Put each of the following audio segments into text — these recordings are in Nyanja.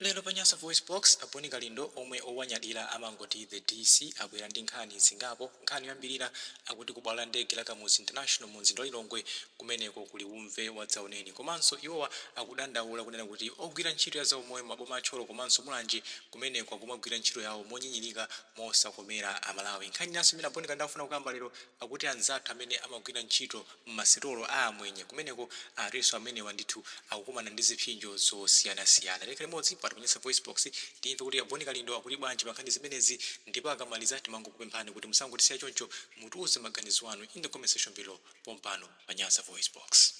Lero pa Nyasa VoiceBox, a Bon Kalindo omwe owanyadira amangoti The DC abwera ndi nkhani zingapo. Nkhani yoyambilira akuti ku bwalo la ndege la Kamuzu International mu mzinda wa Lilongwe kumeneko kuli uve wadzaoneni. Komanso iwowa akudandaula kunena kuti ogwira ntchito ya zaumoyo m'maboma a Thyolo komanso Mulanje kumeneko akumagwira ntchito yawo monyinyirika mosakomera Amalawi. Nkhani inanso imene a Bon Kalindo akufuna kukamba lero akuti anzathu amene amagwira ntchito mmasitolo a amwenye kumeneko atinso amenewa ndithu akukumana ndi zipsinjo zosiyanasiyana. Tikhale limodzi pa Nyasa VoiceBox timve kuti a Bon Kalindo akuti bwanji pa nkhani zimenezi ndipo akamaliza timangokupemphani kuti musangotisiya choncho mutiuze maganizo anu in the comment section below pompano pa Nyasa VoiceBox.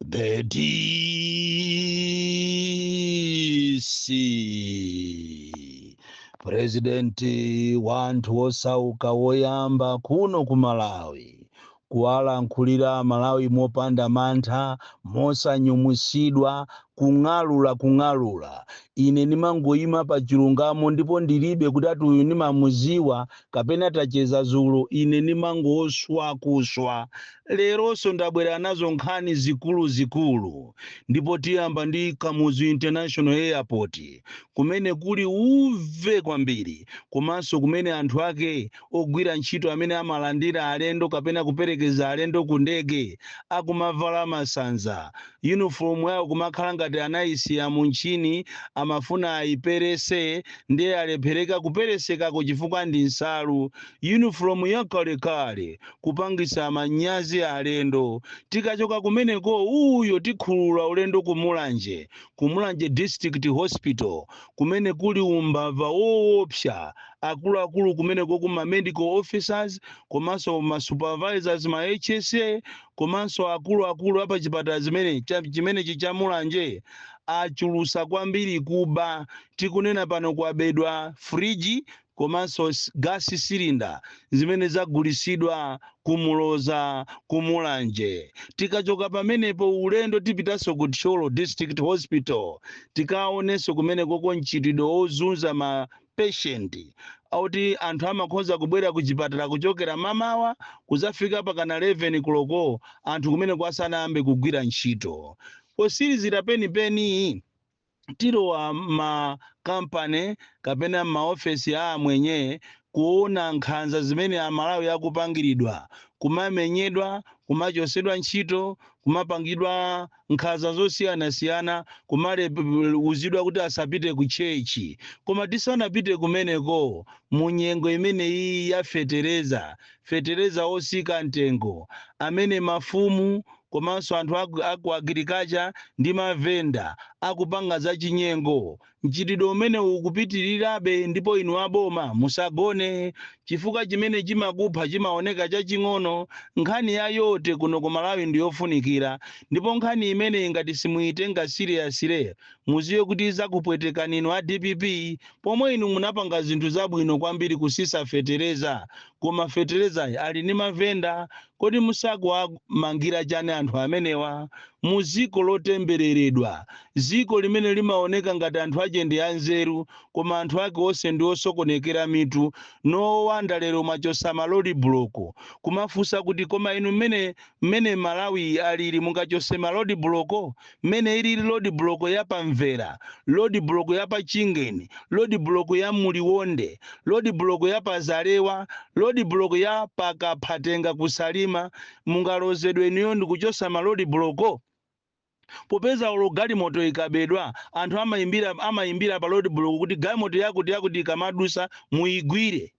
The DC president wa anthu osauka woyamba kuno ku Malawi kuwalankhulira Amalawi mopanda mantha mosanyumwisidwa Kung'alula, kung'alula. Ine ndimangoyima pa chilungamo, ndipo ndiribe kuti ati uyu ndimamuziwa, kapena tacheza zulo. Ine ndimangoswa, kuswa. Leronso ndabwera nazo nkhani zikulu zikulu. Ndipo tiyamba ndi Kamuzu International Airport, kumene kuli uve kwambiri, komanso kumene anthu ake Ogwira ntchito amene amalandira alendo kapena kuperekeza alendo ku ndege akumavala masanza. Yunifolomu yawo kumakhala ngati anayisiya mu ntchini, amafuna ayiperese ndiye yalephereka kuperesekako chifukwa ndi nsalu. Yunifolomu yakalekale, kupangitsa manyazi alendo. Tikachoka kumeneko uyo tikhulula ulendo ku Mulanje, ku Mulanje District Hospital kumene kuli umbava woopsa, akuluakulu kumenekoko ma medical officers komanso ma supervisors ma HSA komanso akuluakulu apa chipatala zimene cha- chimenechi cha Mulanje achulusa kwambiri kuba tikunena pano kwabedwa friji komanso s- gas cylinder zimene zagulisidwa ku Muloza ku Mulanje tikachoka pamenepo ulendo tipitanso ku Thyolo District Hospital tikaonenso kumenekoko mchitidwe wozunza ma patient oti anthu amakhoza kubwera ku chipatala kuchokera mamawa kuzafika pakana 11 koloko anthu kumeneko asanayambe kugwira ntchito posilizira penipeni tilowa ma kampani kapena m'maofesi a amwenye kuona nkhanza zimene amalawi akupangiridwa kumamenyedwa kumachosedwa ntchito kumapangidwa nkhaza zosiyanasiyana, kumaletsedwa kuti asapite ku church. Koma tisanapite kumeneko, mu nyengo imene iyi ya fetereza, fetereza wosika mtengo, amene mafumu komanso anthu a ku agriculture ndi ma venda akupanga zachinyengo, Mchitidwe umenewu ukupitirirabe ndipo inu a boma musagone chifukwa chimene chimakupha chimaoneka chaching'ono. Nkhani ya vote kuno ku Malawi ndi yofunikira ndipo nkhani imeneyi ngati simuitenga seriously muziwe kuti izakupwetekani inu a dpp pomwe inu munapanga zinthu zabwino kwambiri kusisa fetereza koma feterezayi ali ndi mavenda Kodi musakuwamangira chani anthu amenewa? Muziko lotembereredwa, ziko limene limaoneka ngati anthu ache ndi anzeru koma anthu ake onse ndi osokonekera mitu, no wonder lero mwachosa ma lodi buloko. Kumafusa kuti koma inu mmene mmene malawi alili mungachose ma lodi buloko? mmene ili lodibuloko ya pa Mvera, lodibuloko ya pa Chingeni, lodibuloko ya mu Liwonde, lodibuloko ya pa Zalewa, lodibuloko ya pa Kaphatenga ku Salima, mungalozedwe inuyo ndi kuchosa malodibuloko? Popeza olo galimoto ikabedwa, anthu amaimbira pa lodibuloko kuti galimoto yakutiyakuti ikamadusa muigwire.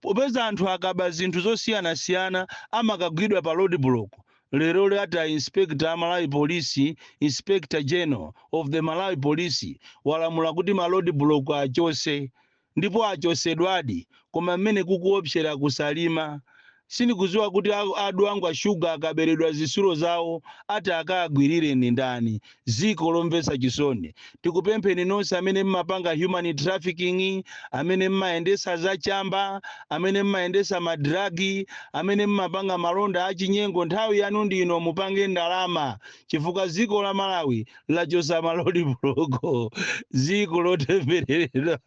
popeza anthu akaba zinthu zosiyanasiyana amakagwidwa pa roadblock, lero ati a Inspector a Malawi Police, Inspector General of the Malawi Police, walamula kuti ma roadblock achose ndipo achosedwadi koma mmene kukuopsera ku Salima Sindikuziwa kuti a Dwangwa Sugar akaberedwa zisulo zawo ati akaagwirire ndi ndani. Ziko lomvesa chisoni. Tikupempheni nonse amene mmapanga human trafficking, amene mmayendesa za chamba, amene mmayendesa ma drug, amene mmapanga malonda a chinyengo nthawi yanu ndi ino mupange ndalama chifukwa ziko la Malawi lachosa ma lodibuloko. Ziko lotembereredwa.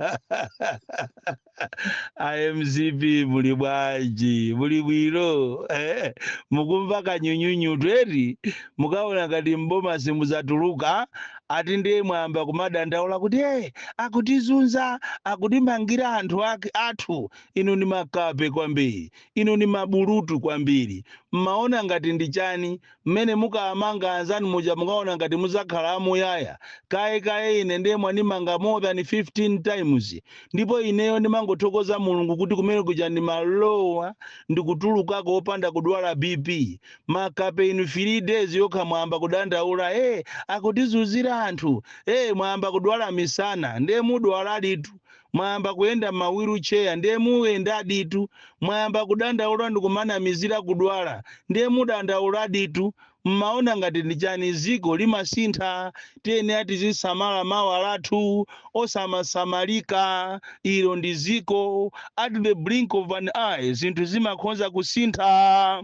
a mcp muli bwanji muli bwino eh, mukumva kanyunyunyu eti mukaona ngati mboma simuzatuluka ati ndiye mwayamba kumadandaula kuti hey, akutizunza akutimangira anthu athu inu ni makape kwambiri inu ni mabulutu kwambiri mmaona ngati ndi chani Mmene mukaamanga anzanu muja mukaona ngati muzakhala amuyaya? Kaye kaye ine nde mwanimanga more than 15 times ndipo ineyo ndimangothokoza mulungu kuti kumene kuja ndimalowa ndikutulukako opanda kudwala BP. Makape inu 3 days yokha mwayamba kudandaula ee akutizunzira anthu ee mwayamba kudwala misana nde mudwaladitu Mwayamba kuyenda mma wheel chair ndiye muyendaditu, mwayamba kudandaula ndikumanamizira kudwala ndiye mudandauladitu, mmaona ngati ndi chani? Ziko limasintha tiyenera tizisamala mawa lathu osamasamalika ilo ndi ziko at the blink of an eye zinthu zimakhonza kusintha.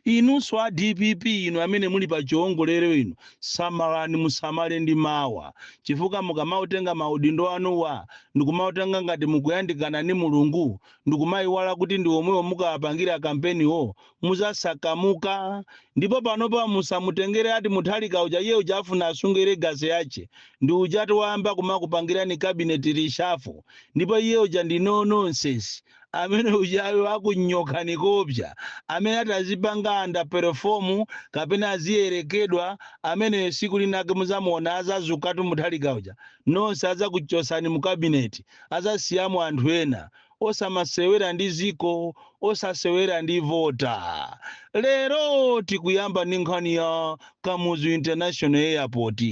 Inunso a dpp inu amene muli pa chiongolero inu samalani musamale ndi mawa chifukwa mukamautenga ma udindo anuwa ndikumautenga ngati mukuyandikana ni Mulungu ndikumaiwala kuti ndi omwewo mukawapangira kampeni wo muzasakamuka ndipo panopa musamutengere ati Mutharika uja iye uja afuna asunge legacy yache ndi ujati wayamba kumakupangirani cabinet reshuffle ndipo iye uja ndi no nonsense amene ujayo akunyokhani koopsya amene atazipanga under perform kapena aziyerekedwa ameneyo siku linake muzamuona azazukatu Mutharika uja nonse azakuchosani mu kabineti azasiyamo anthu ena osamasewera ndi ziko osasewera ndi vota lero tikuyamba ndi nkhani ya Kamuzu International Airport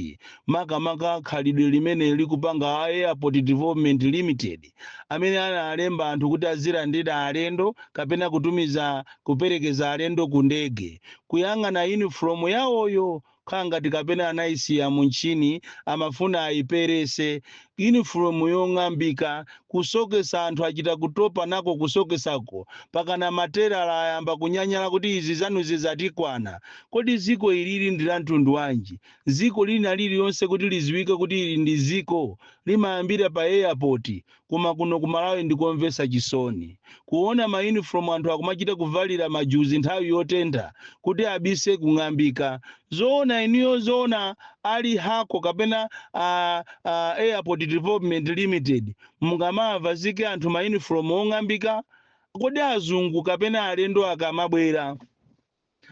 makamaka khalidwe limene likupanga a Airport Development Limited amene analemba anthu kuti azilandira alendo kapena kutumiza kuperekeza alendo ku ndege kuyang'ana uniform yawoyo khala ngati kapena anayisiya mu mtchini amafuna ayiperese uniform yong'ambika kusokesa anthu achita kutopa nako kusokesako pakana matelala ayamba kunyanyala kuti izi zanuzi zatikwana kodi ziko ilili ndi la mtundu wanji Ziko lina lililonse kuti liziwike kuti ili ndi ziko limayambira pa airport koma kuno ku Malawi ndikomvesa chisoni kuona ma uniform anthu akumachita kuvalira majuzi nthawi yotentha kuti abise kung'ambika. Zoona inuyo zoona a Lihakho kapena a Airport Development Limited mungamawavazike anthu ma uniform ong'ambika? Kodi azungu kapena alendo akamabwera.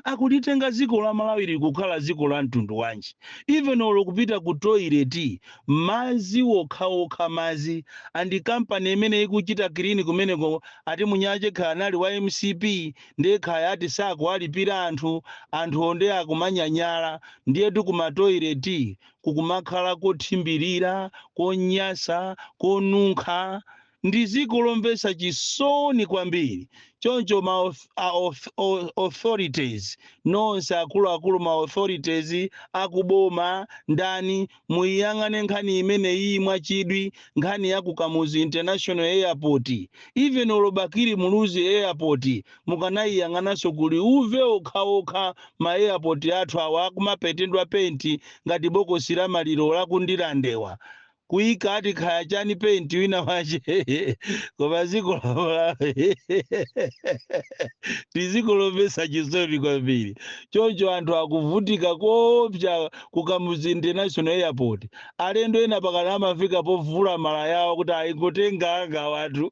akulitenga dziko la Malawi li kukhala dziko la mtundu wanji? Even olo kupita ku toilet mazi wokhawokha mazi and company imene ikuchita clean kumeneko ati Munyache kaya anali wa mcp ndiye kaya ati sakuwalipira anthu, anthuwo ndiye akumanyanyala ndiyetu ku ma toilet kukumakhala kothimbirira, konyasa, konunkha. Ndi ziko lomvesa chisoni kwambiri. Choncho ma authorities nonse akuluakulu ma authorities akuboma ndani muiyang'ane nkhani imeneyiyi mwachidwi nkhani ya ku Kamuzu International Airport. Even olo Bakili Muluzi airport mukanaiyang'ananso kuli uve okhaokha ma airport athu awa akumapentedwa penti ngati bokosi la maliro la ku Ndirandewa. kuika ati khaya chani paint wina wache koma ziko la Malawi ndi dziko lomvetsa chisoni kwambiri choncho anthu akuvutika koopsa ku kamuzu international airport alendo ena mpakana amafika povula malaya yawo kuti ayingotenga anga awatu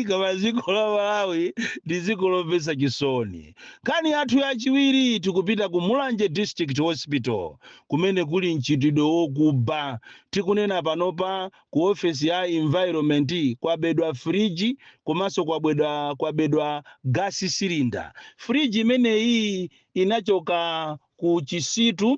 koma dziko la malawi ndi dziko lomvetsa chisoni nkhani yathu yachiwiri tikupita ku mulanje district hospital kumene kuli mchitidwe wokuba tikunena panopa ku ofesi ya environment kwabedwa friji komanso kwabedwa kwabedwa gas cylinder friji imeneyi inachoka ku chisitu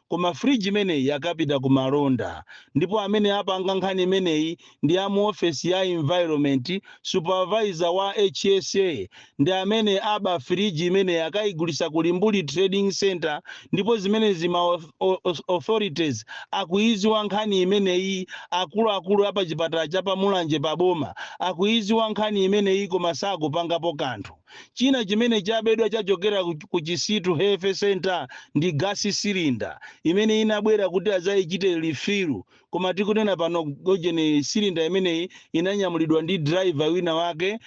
Koma fridge imeneyi akapita ku malonda ndipo amene apanga nkhani imeneyi ndi a mu ofesi ya environment, supervisor wa HSA ndi amene aba fridge imeneyi akaigulisa ku Limbuli trading centre ndipo zimenezi ma authorities akuiziwa nkhani imeneyi akuluakulu a pa chipatala cha pa Mulanje pa boma akuiziwa nkhani imeneyi koma sakupangapo kanthu. China chimene chabedwa chachokera ku Chisitu Health Centre ndi gasi silinda imene inabwera kuti adzaichite lifiru koma tikunena pano ujeni silinda imeneyi inanyamulidwa ndi diraiva wina wake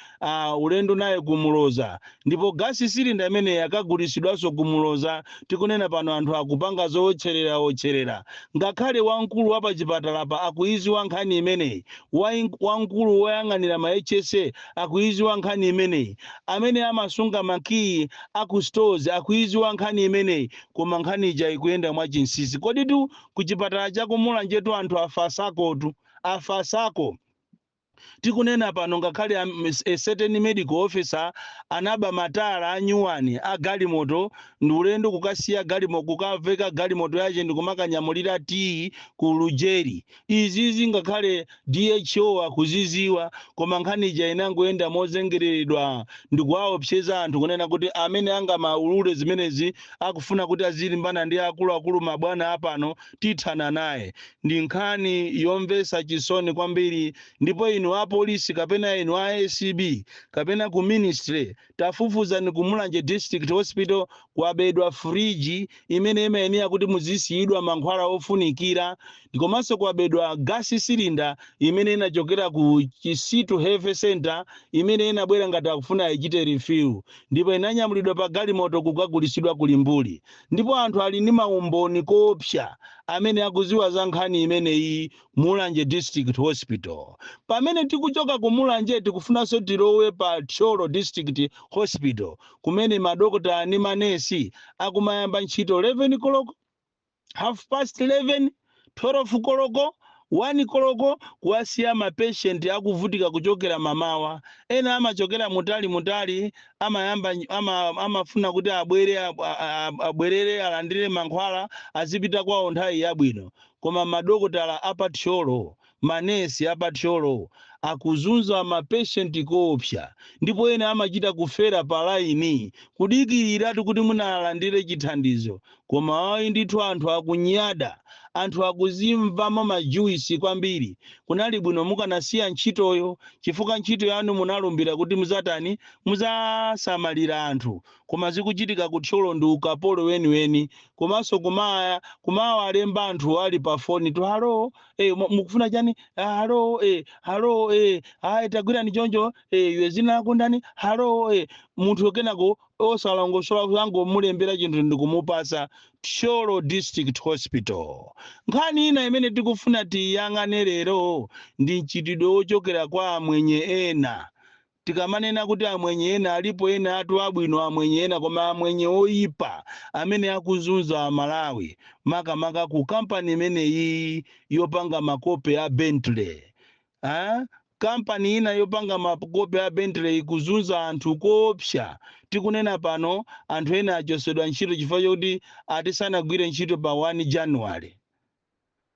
ulendo naye ku Muloza ndipo gasi silinda imeneyi akagulitsidwanso ku Muloza tikunena pano anthu akupanga zowotcherera-wotcherera ngakhale wamkulu wa pachipatalapa akuiziwa nkhani imeneyi wamkulu woyang'anira ma HSA akuidziwa nkhani imeneyi. Amene amasunga makiyi a ku stores akuidziwa nkhani imeneyi koma nkhani ija ikuyenda mwa chinsinsi. Koditu ku chipatala cha ku Mulanjetu anthu afasakotu, afasako. Tikunena pano ngakhale a certain medical officer anaba matayala anyuwani a galimoto ndi ulendo kukasiya galimo, kukaveka galimoto yache ndi kumakanyamulira tiyi ku Lujeri. Izizi ngakhale DHO akuziziwa koma nkhani ija inangoyenda mozengereredwa ndikuwaopseza anthu kunena kuti amene angamaulule zimenezi akufuna kuti azilimbana ndi akuluakulu mabwana apano tithana naye. Ndi nkhani yomvesa chisoni kwambiri ndipo inu apolisi kapena inu a acb kapena ku ministry tafufuzani ku mulanje district hospital kwabedwa fridge imene imayenera kuti muzisiyidwa mankhwala ofunikira komanso kwabedwa gas cylinder imene inachokera ku chisitu health center imene inabwera ngati akufuna ayichite refill ndipo inanyamulidwa pa galimoto kukagulisidwa ku limbuli ndipo anthu ali ndi maumboni koopsa amene akuziwa za nkhani imeneyi Mulanje District Hospital. Pamene tikuchoka ku Mulanje tikufunanso tilowe pa Thyolo District Hospital kumene madokotala ndi manesi akumayamba ntchito 11 koloko, half past 11, 12 koloko, 1 koloko kuwasiya ma patient akuvutika kuchokera mamawa. Ena amachokera mutali mutali amayamba ny- ama, amafuna kuti abwere ab- a- a- abwerere alandire mankhwala azipita kwawo nthawi yabwino. Koma madokotala a pa Thyolo, manesi a pa Thyolo akuzunza ma patient koopsa ndipo ena amachita kufera pa line kudikiliratu kuti mwina alandire chithandizo koma ayi ndithu anthu akunyada, anthu akuzimvamo ma juice kwambiri, kunali bwino mukanasiya ntchitoyo chifukwa ntchito yanu munalumbira kuti muzatani, mudzasamalira anthu koma zikuchitika ku thyolo ndi ukapolo weniweni komanso kuma kumawalemba anthu ali pa fonitu halo eh, mu- mukufuna chani ah, halo eh, halo eh, ah, tagwirani choncho eh, iwe dzina lako ndani halo eh. munthu kenako osalongosola kuzangomulembera chinthu ndikumupasa thyolo district hospital nkhani ina imene tikufuna tiyang'ane lero ndi mchitidwe wochokera kwa amwenye ena Tikamanena kuti amwenye ena alipo enatu abwino amwenye ena koma amwenye oipa amene akuzunza amalawi makamaka ku company imeneyiyi yopanga makope a bentley aah company ina yopanga makope a bentley ikuzunza anthu koopsa tikunena pano anthu ena achosedwa ntchito chifukwa chokuti ati sanagwire ntchito pa 1 january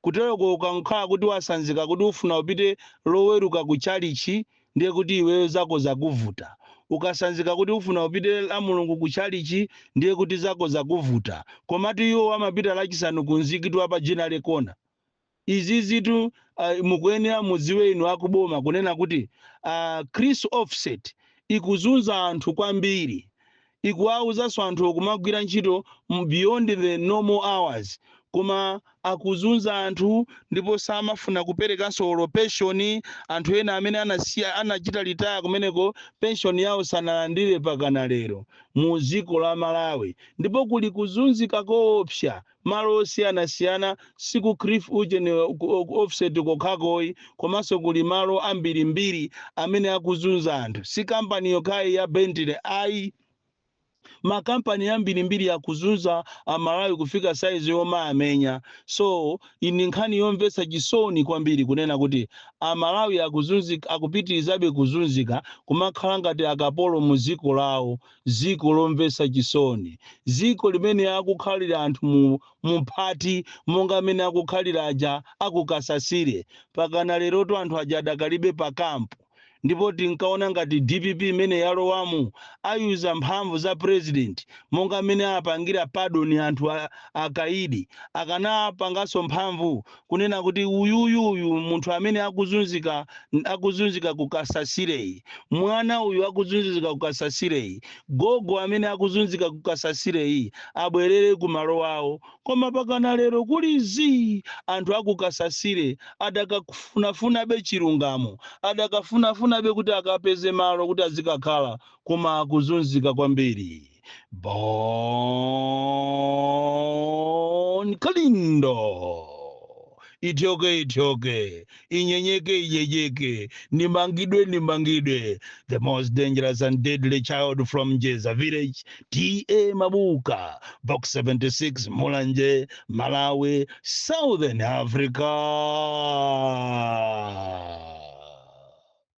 Kuteroko ukangokhala kuti wasanzika kuti ufuna upite loweruka ku chalichi ndiye kuti iweyo zako zakuvuta. Ukasanzika kuti ufuna upite lamulungu ku chalichi ndiye kuti zako zakuvuta. Komatu iwowo amapita lachisanu ku mzikiti wa pa Ginnery Corner. Izizitu mukuyenera mudziwe inu a ku boma kunena kuti a Kris Offset ikuzunza anthu kwambiri. Ikuwawuzanso anthuwo kumagwira ntchito beyond the normal hours koma akuzunza anthu ndipo samafuna kuperekanso olo pension, anthu ena amene anasiya anachita retire kumeneko pension yawo sanalandire pakana lero mu dziko la Malawi ndipo kuli kuzunzika koopsya malo osiyanasiyana si ku Kris ujeni Offset kokhako ayi komanso kuli malo ambirimbiri amene akuzunza anthu si company yokhayi ya bentley ayi ma company ambirimbiri akuzunza amalawi kufika size yomaamenya so iyi ndi nkhani yomvetsa chisoni kwambiri kunena kuti amalawi akuzunzika akupitirizabe kuzunzika kumakhala ngati akapolo mu dziko lawo Dziko lomvetsa chisoni. Dziko limene akukhalira anthu mumphati monga mmene akukhalira aja a ku Kasasire. Mpakana lerotu anthu aja adakalibe pa camp. Ndipo tinkaona ngati dpp imene yalowamu ayuza mphamvu za president monga mmene anapangira pardon anthu a akaidi. Akanapanganso mphamvu kunena kuti uyuyuyu munthu amene akuzunzika akuzunzika ku Kasasireyu mwana uyu akuzunzika ku Kasasireyu gogo amene akuzunzika ku Kasasireyu abwerere ku malo awo koma mpakana lero kuli zii anthu a ku Kasasire adakafunafunabe chilungamo adakafunafunabe kuti akapeze malo kuti azikakhala koma akuzunzika kwambiri Bon Kalindo. Ityoke ityoke, inyenyeke inyeyeke, nimangidwe nimangidwe. The most dangerous and deadly child from Jeza village, TA Mabuka, box 76 Mulanje, Malawi, Southern Africa.